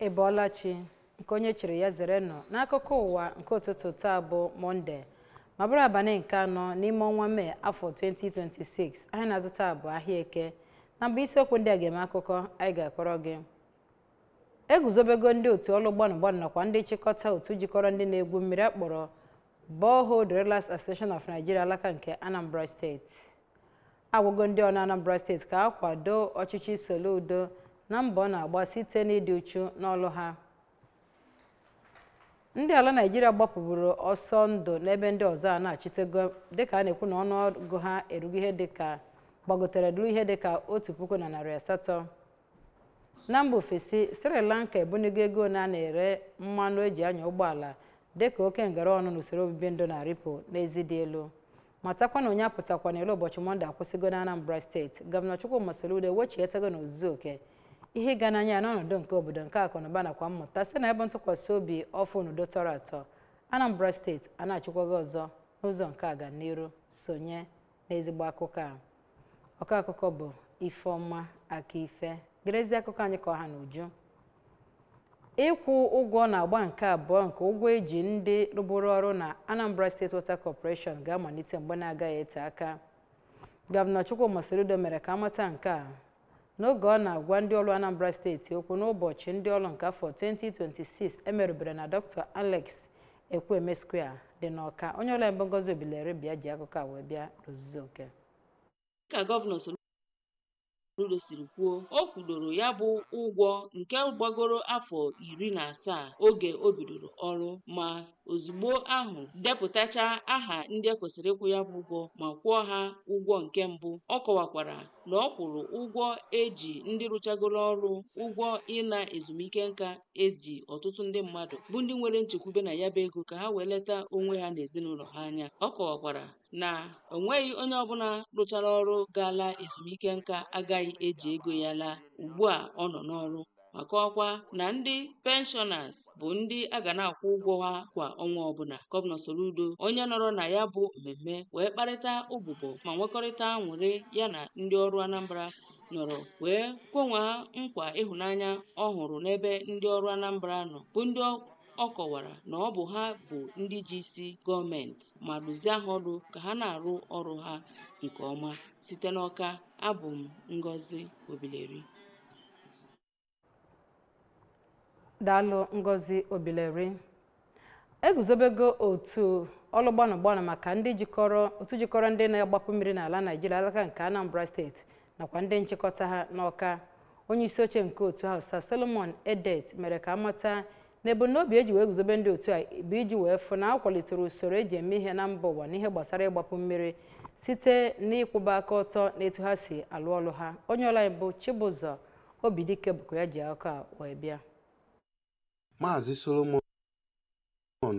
Ị bọọla chi nke onye chiri ya zere nnọọ n'akụkọ ụwa nke ụtụtụ taa bụ Mọnde ma bụrụ abalị nke anọ n'ime ọnwa Mee afọ 2026 ahịa na-azụ taa bụ ahịa eke na mbụ isiokwu ndị a ga-eme akụkọ anyị ga-akọrọ gị eguzobego ndị otu ọlụ gbanụ gbanụ nakwa ndị nchịkọta otu jikọrọ ndị na-egwu mmiri akpọrọ Borehole Drillers Association of Nigeria alaka nke Anambra steeti agwago ndị ọlụ Anambra steeti ka ha kwado ọchịchị Soludo na mbọ ọ na-agba site n'ịdị uchu n'ọlụ ha ndị ala Naịjirịa gbapụburu ọsọ ndụ n'ebe ndị ọzọ anachitego dịka a na-ekwu na ọnụọgụ ha erugo ihe dịka gbagotere duru ihe dịka otu puku na narị asatọ na mba ofesi Sri Lanka ebunigo ego na a na-ere mmanụ eji anya ụgbọala dịka oke ngara ọnụ n'usoro obibi ndụ na-arịpụ n'ezi dị elu matakwa na onye apụtakwana ilo ụbọchị mọnde akwụsịgo na anambra steeti gọvanọ chukwuma soludo ewechitego n'ozuzu oke ihe ịga n'anya ya n'ọnọdụ nke obodo nke akụnụba nakwa mmụta site na ebe ntụkwasị obi ọfụ na udo tọrọ atọ anambra steeti anachikwago ọzọ n'ụzọ nke aga n'iru sonye n'ezigbo akụkọ a ọkọ akụkọ bụ ifeọma aka ife gerezi akụkọ anyị ka ọ ha n'uju ịkwụ ụgwọ n'agba nke abụọ nke ụgwọ eji ndị rụbụrụ ọrụ na anambra state water corporation ga-amalite mgbe na-agaghị ete aka gọvanọ chukwuma soludo mere ka a mata nke a N'oge ọ na-agwa ndị ọlụ Anambra steeti okwu n'ụbọchị ndị ọlụ nke afọ 2026 emerubere na Dr. Alex Ekwueme Square dị n'Ọka, onye ọlụ anyị bụ Ngozi Obileri bụ ya ji akụkọ a wee bịa n'ozuzu oke. Dịka Gọvanọ Soludo siri kwuo, o kwudoro ya bụ ụgwọ nke gbagoro afọ iri na asaa oge o bidoro ọrụ ma ozugbo ahụ depụtachaa aha ndị e kwesịrị ịkwụ ya bụ ụgwọ ma kwụọ ha ụgwọ nke mbụ. Ọ kọwakwara na ọ kwụrụ ụgwọ eji ndị rụchagoro ọrụ ụgwọ ịla ezumike nka eji ọtụtụ ndị mmadụ bụ ndị nwere nchekwube na ya bụ ego ka ha wee leta onwe ha na ezinụlọ ha anya ọ kọwakwara na o nweghị onye ọbụla rụchara ọrụ ga-ala ezumike nka agaghị eji ego ya laa ugbu a ọ nọ n'ọrụ ma kọwakwa na ndị penshọnas bụ ndị a ga na-akwụ ụgwọ ha kwa ọnwa ọbụla gọvanọ Soludo onye nọrọ na ya bụ mmemme wee kparịta ụbụbọ ma nwekọrịta aṅụrị ya na ndị ọrụ Anambra nọrọ wee kwenwee ha nkwa ịhụnanya ọ hụrụ n'ebe ndị ọrụ Anambra nọ bụ ndị ọ kọwara na ọ bụ ha bụ ndị ji isi gọọmenti ma dụzie ha ọdụ ka ha na-arụ ọrụ ha nke ọma site n'Ọka abụ m Ngozi Obileri daalụ ngozi obileri eguzobego otu ọlụ gbanụ gbanụ maka ndị jikọrọ otu jikọrọ ndị na-agbapụ mmiri n'ala naijiria alaka nke anambra steeti nakwa ndị nchịkọta ha n'ọka onye isi oche nke otu ahụ sir solomon edet mere ka amata na ebumnobi e ji wee guzobe ndị otu a bụ iji wee fụ na a kwalitere usoro eji eme ihe na mba ụwa n'ihe gbasara ịgbapụ mmiri site n'ịkwụba aka ọtọ na etu ha si alụ ọlụ ha onye ọlụ anyị bụ Chibụzọ Obidike bụkwa ya ji akụkọ a wee bịa Maazị Solomon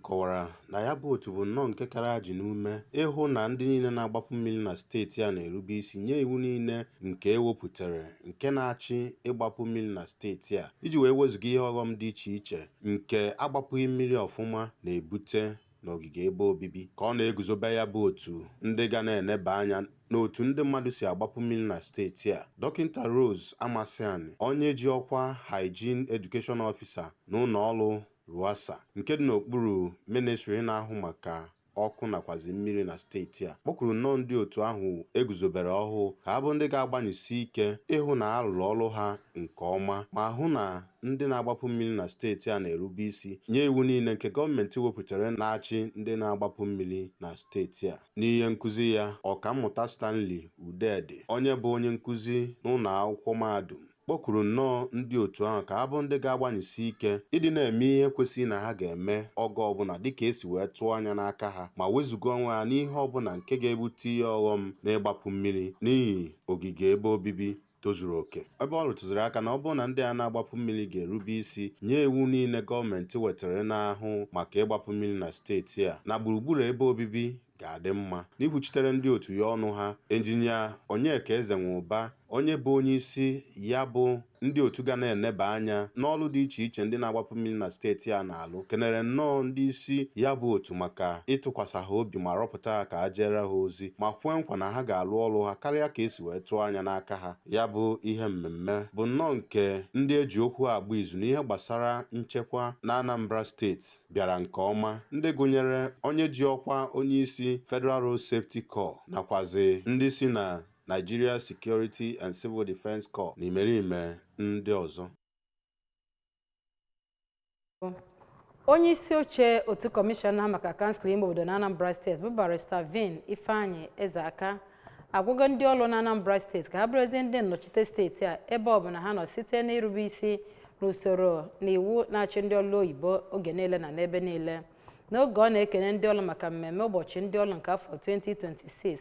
kọwara na ya bụ otu bụ nnọọ nke kara ajị n'ume ịhụ na ndị niile na-agbapụ mmiri na steeti a na-erube isi nye iwu niile nke e wepụtara nke na-achị ịgbapụ mmiri na steeti a iji wee wezụga ihe ọghọm dị iche iche nke agbapụghị mmiri ọfụma na-ebute n'ogige ebe obibi ka ọ na-eguzobe ya bụ otu ndị ga na-eneba anya n'otu ndị mmadụ si agbapụ mmiri na steeti a dọkịta Rose Amasiani onye ji ọkwa Hygiene Education Officer na ụnọ ọrụ Ruwassa nke dị n'okpuru ministri na-ahụ maka ọkụ nakwazi mmiri na steeti a kpọkwuru nnọọ ndị otu ahụ e guzobere ọhụụ ka ha bụ ndị ga-agbanyesi ike ịhụ na a rụrụ ọrụ ha nke ọma ma hụ na ndị na-agbapụ mmiri na steeti a na-erube isi nye iwu niile nke gọọmenti wepụtara na-achị ndị na-agbapụ mmiri na steeti a. N'ihe nkụzi ya, Ọkammụta Stanley Udedi, onye bụ onye nkụzi n'ụnọ akwụkwọ mahadum kpọkwuru nnọọ ndị otu ahụ ka ha bụ ndị ga-agbanyesi ike ịdị na-eme ihe kwesịrị na ha ga-eme oge ọbụla dịka e si wee tụọ anya n'aka ha ma wezụga onwe ha n'ihe ọbụla nke ga-ebute ihe ọghọm n'ịgbapụ mmiri n'ihi ogige ebe obibi tozuru oke ebe ọ rụtụziri aka na ọ bụrụ na ndị a na-agbapụ mmiri ga-erube isi nye iwu niile gọọmenti wetara na-ahụ maka ịgbapụ mmiri na steeti a na gburugburu ebe obibi ga-adị mma. N'ikwuchitere ndị otu ya ọnụ ha, Engineer Onyeka Ezenwụba, onye bụ onyeisi ya bụ ndị otu ga na-eneba anya n'ọlụ dị iche iche ndị na-agbapụ mmiri na steeti a na-alụ, kenere nnọọ ndị isi ya bụ otu maka ịtụkwasa ha obi ma rọpụta ha ka ha jeere ha ozi ma kwee nkwa na ha ga-alụ ọlụ ha karịa ka e si wee tụọ anya n'aka ha. Ya bụ ihe mmemme bụ nnọọ nke ndị e ji okwu agba izu n'ihe gbasara nchekwa n'Anambra steeti. bịara nke ọma ndị gụnyere onye ji ọkwa onyeisi Federal Road Safety Corps nakwazi ndị si na Nigeria Security and Civil Defence Corps na imerime ndị ọzọ. onye isi oche otu kọmishọna maka kansụl ime obodo na Anambra steeti bụ barista Vin Ifeanyi Ezeaka agwago ndị ọlụ na Anambra steeti ka ha bụrụzie ndị nnọchite steeti a ebe ọ bụla ha nọ site n'irube isi n'usoro na iwu na-achị ndị ọlụ oyibo oge niile na n'ebe niile n'oge ọ na-ekene ndị ọlụ maka mmemme ụbọchị ndị ọlụ nke afọ 2026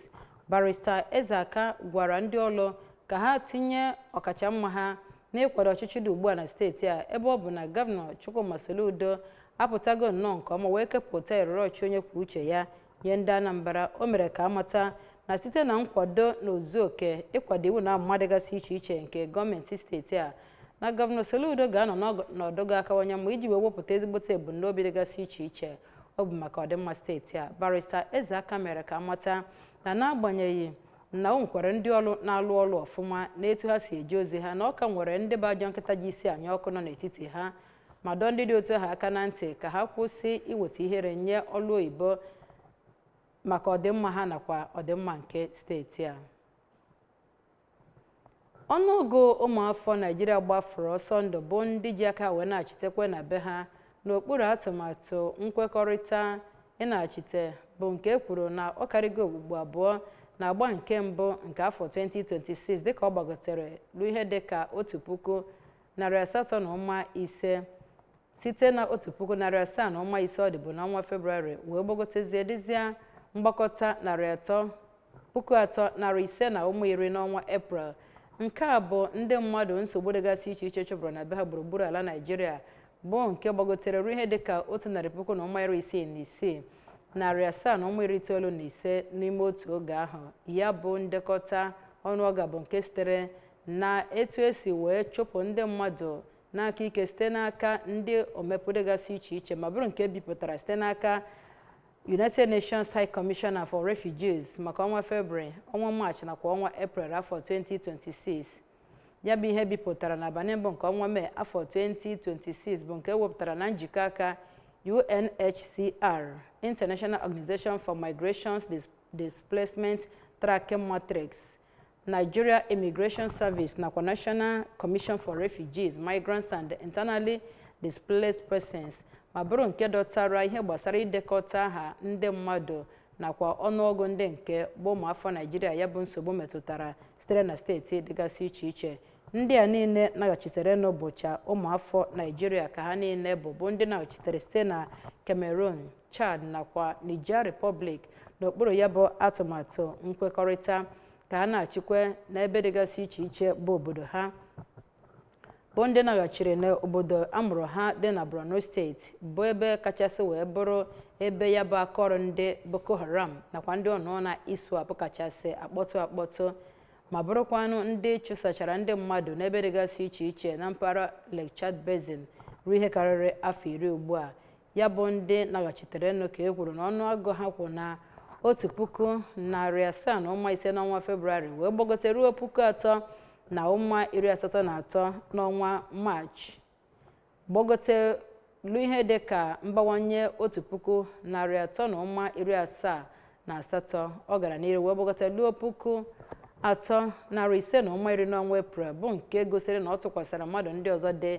barista Ezeaka gwara ndị ọlụ ka ha tinye ọkachamma ha n'ịkwado ọchịchị dị ugbu a na steeti a ebe ọ bụ na gọvanọ Chukwuma Soludo apụtago nnọọ nke ọma wee kepụta erere ọchịchị onye kwuo uche ya nye ndị Anambra o mere ka a mata na site na nkwado na ozu oke ịkwado iwu na amụma dịgasị iche iche nke gọọmenti steeti a na gọvanọ Soludo ga-anọ n'ọnọdụ ga-akawanye mma iji wee wepụta ezigbote ebumnobi dịgasị iche iche o bu maka ọdịmma steeti a barista Ezeaka mere ka a mata na n'agbanyeghị na o nwekwara ndị ọlụ na-alụ ọlụ ọfụma n'etu ha si eje ozi ha na ọ ka nwere ndị bụ ajọ nkịta ji isi anya ọkụ nọ n'etiti ha ma dọọ ndị dị otu ahụ aka na ntị ka ha kwụsị iweta ihere nye ọlụ oyibo maka ọdịmma ha nakwa ọdịmma nke steeti a ọnụọgụ ụmụafọ Naịjirịa gbafuru ọsọ ndụ bụ ndị ji aka wee nachitekwe na be ha n'okpuru atụmatụ nkwekọrịta ịnachite bụ nke e kwuru na ọ karịgo okpukpu abụọ na agba nke mbụ nke afọ 2026 dịka ọ gbagotere ruo ihe dịka otu puku narị asatọ na ụma ise site na otu puku narị asaa na ụma ise ọ dịbu n'ọnwa Febrụwarị wee gbagotezie dịzịa mgbakọta narị atọ puku atọ narị ise na ụma iri n'ọnwa Eprel nke a bụ ndị mmadụ nsogbu dịgasị iche iche chụpụrụ na be ha gburugburu ala Naịjirịa bụ nke gbagotere ruo ihe dịka otu narị puku na ụma iri isii na isii narị asaa na ụma iri itoolu na ise n'ime otu oge ahụ ya bụ ndekọta ọnụọgụ bụ nke sitere na etu e si wee chụpụ ndị mmadụ n'aka ike site n'aka ndị omempụ dịgasị iche iche ma bụrụ nke e bipụtara site n'aka United Nations High Commissioner for Refugees maka ọnwa Febrụwarị, ọnwa Maachị nakwa ọnwa Eprel afọ 2026. Ya bụ ihe e bipụtara n'abalị mbụ nke ọnwa Mee afọ 2026 bụ nke e wepụtara na njikọ aka UNHCR, International Organization for Migration's Displacement Tracking Matrix, Nigeria Immigration Service nakwa National Commission for Refugees, Migrants and Internally Displaced Persons ma bụrụ nke dọtara ihe gbasara idekọta aha ndị mmadụ nakwa ọnụọgụ ndị nke bụ ụmụafọ Naịjirịa ya bụ nsogbu metụtara sitere na steeti dịgasị iche iche Ndị a niile naghachiterenụ bụcha ụmụafọ Naịjirịa ka ha niile bụ bụ ndị naghachitere site na Cameroon, Chad nakwa Niger Republic n'okpuru ya bụ atụmatụ nkwekọrịta ka ha na-achịkwa n'ebe dịgasị iche iche bụ obodo ha bụ ndị naghachiri n'obodo a mụrụ ha dị na Borno steeti bụ ebe kachasị wee bụrụ ebe ya bụ akaọrụ ndị Boko Haram nakwa ndị ọnụọna ISWAP kachasị akpọtụ akpọtụ ma bụrụkwanụ ndị chụsachara ndị mmadụ n'ebe dịgasị iche iche na mpaghara Lake Chad Basin ruo ihe karịrị afọ iri ugbu a ya bụ ndị naghachiterenụ ka e kwuru na ọnụọgụ ha kwụ na otu puku narị asaa na ụma ise n'ọnwa Febrụwarị wee gbagote ruo puku atọ na ụma iri asatọ na atọ n'ọnwa Maachị gbagote luo ihe dị ka mbawanye otu puku narị atọ na ụma iri asaa na asatọ ọ gara n'iru wee gbagote luo puku atọ narị ise na ụma iri n'ọnwa eprel bụ nke gosiri na ọ tụkwasara mmadụ ndị ọzọ dị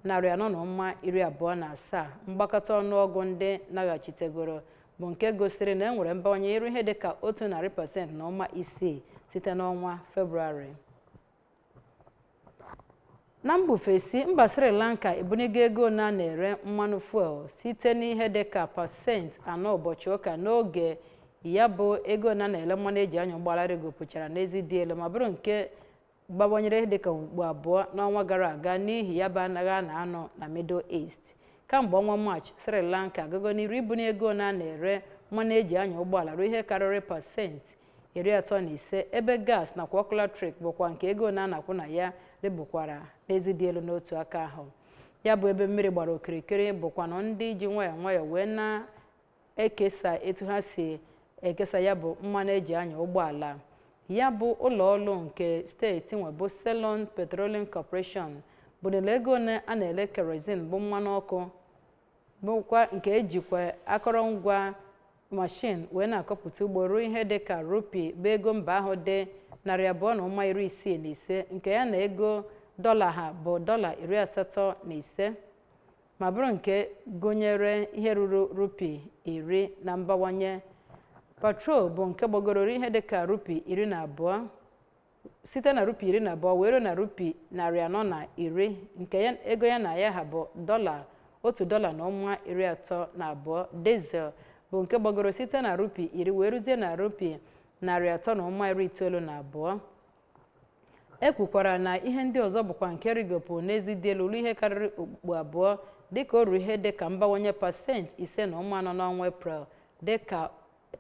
narị anọ na ụma iri abụọ na asaa mgbakọta ọnụọgụ ndị naghachitegoro bụ nke gosiri na e nwere mbawanye iru ihe dị ka otu narị pasent na ụma isii site n'ọnwa febrụwarị na mba ofesi mba sri lanka ebunigo ego one a na-ere mmanụ fuel site n'ihe dị ka pasenti anọ ụbọchị ụka n'oge ya bụ ego one a na-ele mmanụ e ji anya ụgbọala rịgopụchara n'ezi dị elu ma bụrụ nke gbawanyere ihe dịka okpukpu abụọ n'ọnwa gara aga n'ihi ya bụ agha a na-anụ na middle east kamgbe ọnwa maachị sri lanka agago n'iru ibuni ego one a na-ere mmanụ e ji anya ụgbọala ruo ihe karịrị pasenti iri atọ na ise ebe gas nakwa ọkụ latrik bụkwa nke ego one a na-akwụ na ya rịgokwara n'ezi dị elu n'otu aka ahụ ya bụ ebe mmiri gbara okirikiri bụkwanụ ndị ji nwayọọ nwayọọ wee na-ekesa etu ha si ekesa ya bụ mmanụ e ji anya ụgbọala ya bụ ụlọ ọrụ nke steeti nwe bụ Ceylon Petroleum Corporation bunili ego one a na-ele kerozin bụ mmanụ ọkụ bụkwa nke e jikwa akọrọngwa mashin wee na-akọpụta ugbo ruo ihe dị ka rupi bụ ego mba ahụ dị narị abụọ na ụma iri isii na ise nke ya na ego dọla ha bụ dọla iri asatọ na ise ma bụrụ nke gụnyere ihe ruru rupi iri na mbawanye petrol bụ nke gbagoro ruo ihe dị ka rupi iri na abụọ site na rupi iri na abụọ wee ruo na rupi narị anọ na iri nke ego ya na ya ha bụ dọla otu dọla na ụma iri atọ na abụọ dizel bụ nke gbagoro site na rupi iri wee ruzie na rupi narị atọ na ụma iri itoolu na abụọ e kwukwara na ihe ndị ọzọ bụkwa nke rịgopụ n'ezi dị elu ruo ihe karịrị okpukpu abụọ dịka o ruru ihe dịka mbawanye pasenti ise na ụma anọ n'ọnwa eprel dịka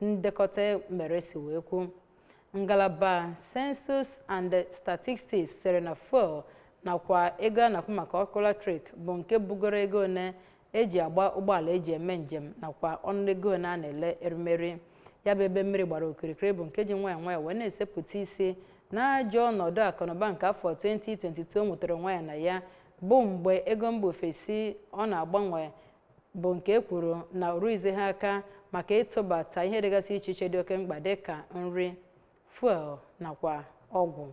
ndekọta e mere si wee kwuo ngalaba census and statistics sịrị na fuel nakwa ego a na-akwụ maka ọkụ latrik bụ nke bugoro ego one eji agba ụgbọala eji eme njem nakwa ọnụ ego one a na-ele erimeri ya bụ ebe mmiri gbara okirikiri bụ nke ji nwayọ nwayọ wee na-esepụta isi n'ajọ ọnọdụ akụnụba nke afọ 2022 nwetara onwe ya na ya bụ mgbe ego mba ofesi ọ na-agbanwe bụ nke e kwuru na o rughizi ha aka maka ịtụbata ihe dịgasị iche iche dị oke mkpa dịka nri fuel nakwa ọgwụ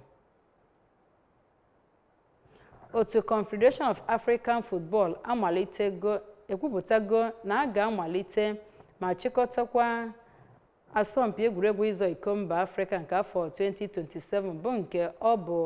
otu confederation of african football amalitego ekwupụtago na a ga-amalite ma chịkọtakwa asọmpi egwuregwu ịzọ iko mba afrịka nke afọ 2027 bụ nke ọ bụ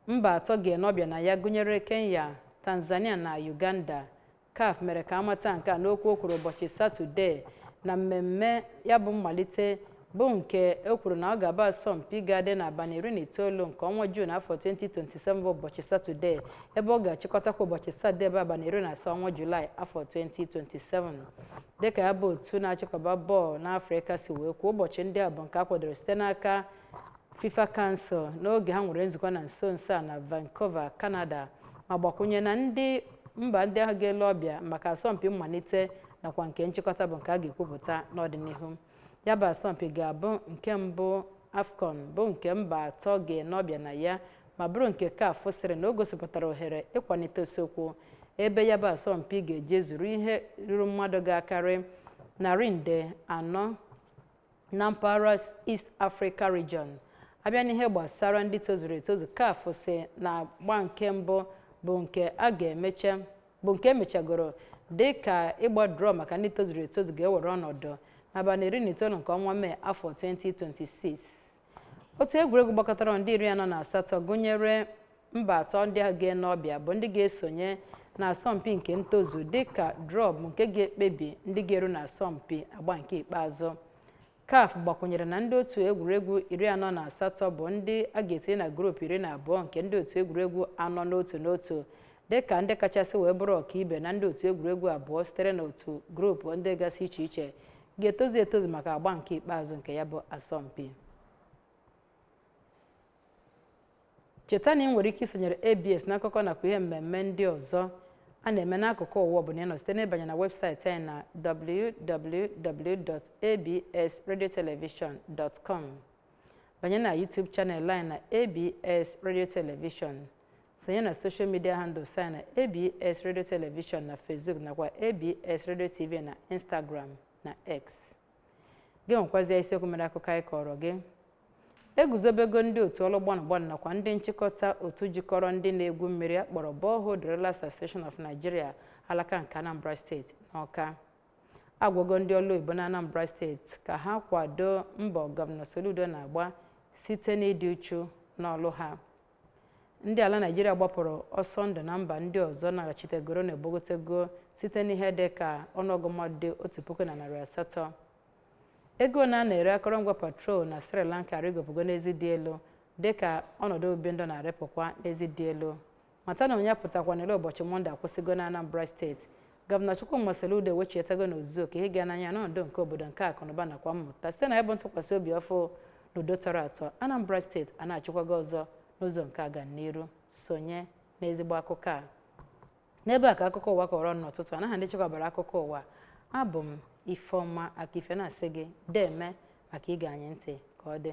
mba atọ ga-ene ọbịa na ya gụnyere kenya tanzania na uganda CAF mere ka a mata nke a n'okwu o kwuru ụbọchị Satọde na mmemme ya bụ mmalite bụ nke e kwuru na ọ ga-abụ asọmpi ga-adị n'abalị iri na itoolu nke ọnwa Juun afọ 2027 bụ ụbọchị Satọde ebe ọ ga-achịkọtakwa ụbọchị Satọde bụ abalị iri na asaa ọnwa Julaị afọ 2027 dịka ya bụ otu na-achịkọba bọọlụ n'Afrịka si wee kwuo ụbọchị ndị a bụ nke a kwadoro site n'aka fifa council n'oge ha nwere nzukọ na nso nso a na vancouver canada ma gbakwunye na mba ndị ahụ ga-ele ọbịa maka asọmpi mmalite nakwa nke nchịkọta bụ nke a ga-ekwupụta n'ọdịnihu ya bụ asọmpi ga-abụ nke mbụ afcon bụ nke mba atọ ga-ene ọbịa na ya ma bụrụ nke caf sịrị na o gosipụtara ohere ịkwalite isiokwu ebe ya bụ asọmpi ga-ejezuru ihe ruru mmadụ ga-akarị narị nde anọ na mpaghara East Africa Region a bịa n'ihe gbasara ndị tozuru etozu CAF sị na agba nke mbụ bụ nke a ga-emecha bụ nke e mechagoro dị ka ịgba drọ maka ndị tozuru etozu ga-ewere ọnọdụ n'abalị iri na itoolu nke ọnwa Mee afọ 2026 otu egwuregwu gbakọtara ndị iri anọ na asatọ gụnyere mba atọ ndị ahụ ga-ene ọbịa bụ ndị ga-esonye na asọmpi nke ntozu dịka drọ bụ nke ga-ekpebi ndị ga-eru na asọmpi agba nke ikpeazụ CAF gbakwunyere na ndị otu egwuregwu iri anọ na asatọ bụ ndị a ga-etinye na grupu iri na abụọ nke ndị otu egwuregwu anọ n'otu n'otu dịka ndị kachasị wee bụrụ ọkaibe na ndị otu egwuregwu abụọ sitere n'otu grupu dịgasị iche iche ga-etozu etozu maka agba nke ikpeazụ nke ya bụ asọmpi cheta na ị nwere ike isonyere abs n'akụkọ nakwa ihe mmemme ndị ọzọ a na-eme n'akụkụ ụwa ọbụla ị nọ site n'ịbanye na webụsaịtị anyị na www.absradiotelevision.com banye na youtube channel anyị na abs radio television sonye na soshal midia handles anyị na abs radio television na facebook nakwa abs radio tv na instagram na x gị nwekwazie isiokwu mere akụkọ anyị kọọrọ gị eguzobego ndị otu ọlụ gbanụgbanụ nakwa ndị nchịkọta otu jikọrọ ndị na-egwu mmiri a kpọrọ Borehole Drillers Association of Nigeria alaka nke Anambra steeti n'Awka agwago ndị ọlụ oyibo na Anambra steeti ka ha kwado mbọ gọvanọ Soludo na-agba site n'ịdị uchu n'ọlụ ha Ndị ala Naịjirịa gbapụrụ ọsọ ndụ na mba ndị ọzọ naghachitegoro na egbogotego site n'ihe dị ka ọnụọgụ mmadụ dị otu puku na narị asatọ. Ego ole a na-ere akọrọngwa petrol na Sri Lanka arịgopụgo n'ezi dị elu dị ka ọnọdụ obibi ndụ na-arịpụkwa n'ezi dị elu. Mata na onye apụtakwana ilo ụbọchị Mọnde akwụsịgo n'Anambra steeti Gọvanọ Chukwuma Soludo ewechietago n'ozuzu oke ihe ịga n'anya n'ọnọdụ nke obodo nke akụnụba nakwa mmụta site na ịbụ ntụkwasị obi ọfụ na udo tọrọ atọ Anambra steeti anachikwago ọzọ n'ụzọ nke ọganiru sonye n'ezigbo akụkọ a n'ebe a ka akụkọ ụwa kọrọ ọnụ n'ụtụtụ a n'aha ndị chịkọbara akụkọ ụwa abụ m Ifeọma Akife na-asị gị deme maka ige anyị ntị ka ọ dị